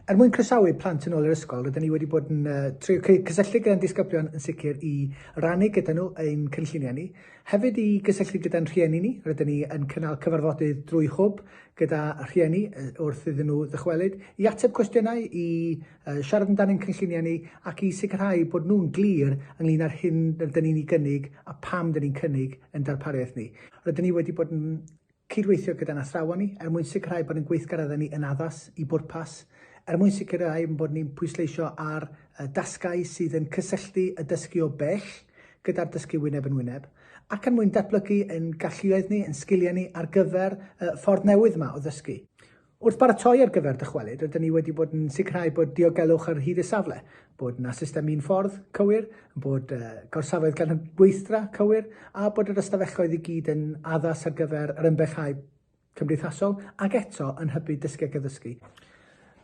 Er mwyn croesawu plant yn ôl i'r ysgol, rydyn ni wedi bod yn uh, trio cysylltu gyda'n disgyblion yn sicr i rannu gyda nhw ein cynlluniau ni. Hefyd i gysylltu gyda'n rhieni ni, rydyn ni yn cynnal cyfarfodydd drwy hwb gyda rhieni wrth iddyn nhw ddychwelyd, i ateb cwestiynau, i uh, siarad amdan ein cynlluniau ni ac i sicrhau bod nhw'n glir ynglyn â'r hyn rydyn ni'n ei gynnig a pam rydyn ni'n cynnig yn darpariaeth ni. Rydyn ni wedi bod yn Cydweithio gyda'n athrawon ni er mwyn sicrhau bod ein gweithgareddau ni yn addas i bwrpas, er mwyn sicrhau ein bod ni'n pwysleisio ar dasgau sydd yn cysylltu y dysgu o bell gyda'r dysgu wyneb yn wyneb, ac er mwyn datblygu ein galluoedd ni, ein sgiliau ni ar gyfer y ffordd newydd yma o ddysgu. Wrth baratoi ar gyfer dychwelyd, rydyn ni wedi bod yn sicrhau bod diogelwch ar hyd y safle, bod yna system un ffordd cywir, bod uh, gorsafoedd gan gweithdra cywir, a bod yr ystafelloedd i gyd yn addas ar gyfer yr ymbellhau cymdeithasol ac eto yn hybu dysgu ac addysgu.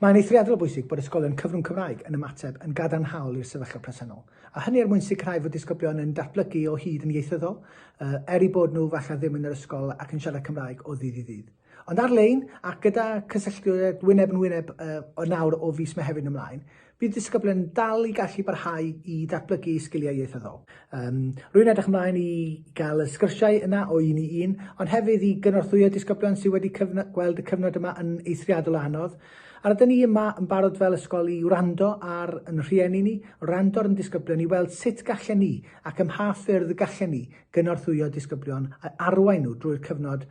Mae'n eithriadol o bwysig bod ysgolion cyfrwng Cymraeg yn ymateb yn gadarnhaol i'r sefyllfa presennol, a hynny er mwyn sicrhau fod disgyblion yn datblygu o hyd yn ieithyddol, uh, er i bod nhw falle ddim yn yr ysgol ac yn siarad Cymraeg o ddydd i ddydd. Ond ar-lein ac gyda cysylltiad wyneb yn wyneb o nawr o fis Mehefin ymlaen, bydd disgyblion yn dal i gallu parhau i ddatblygu eu sgiliau ieithyddol. Um, rwy'n edrych ymlaen i gael y sgyrsiau yna o un i un, ond hefyd i gynorthwyo disgyblion sydd wedi gweld y cyfnod yma yn eithriadol o anodd. A rydyn ni yma yn barod fel ysgol i wrando ar yn rhieni ni, wrando ar yn disgyblion i weld sut gallen ni ac ym mha ffyrdd y gallen ni gynorthwyo disgyblion a arwain nhw drwy'r cyfnod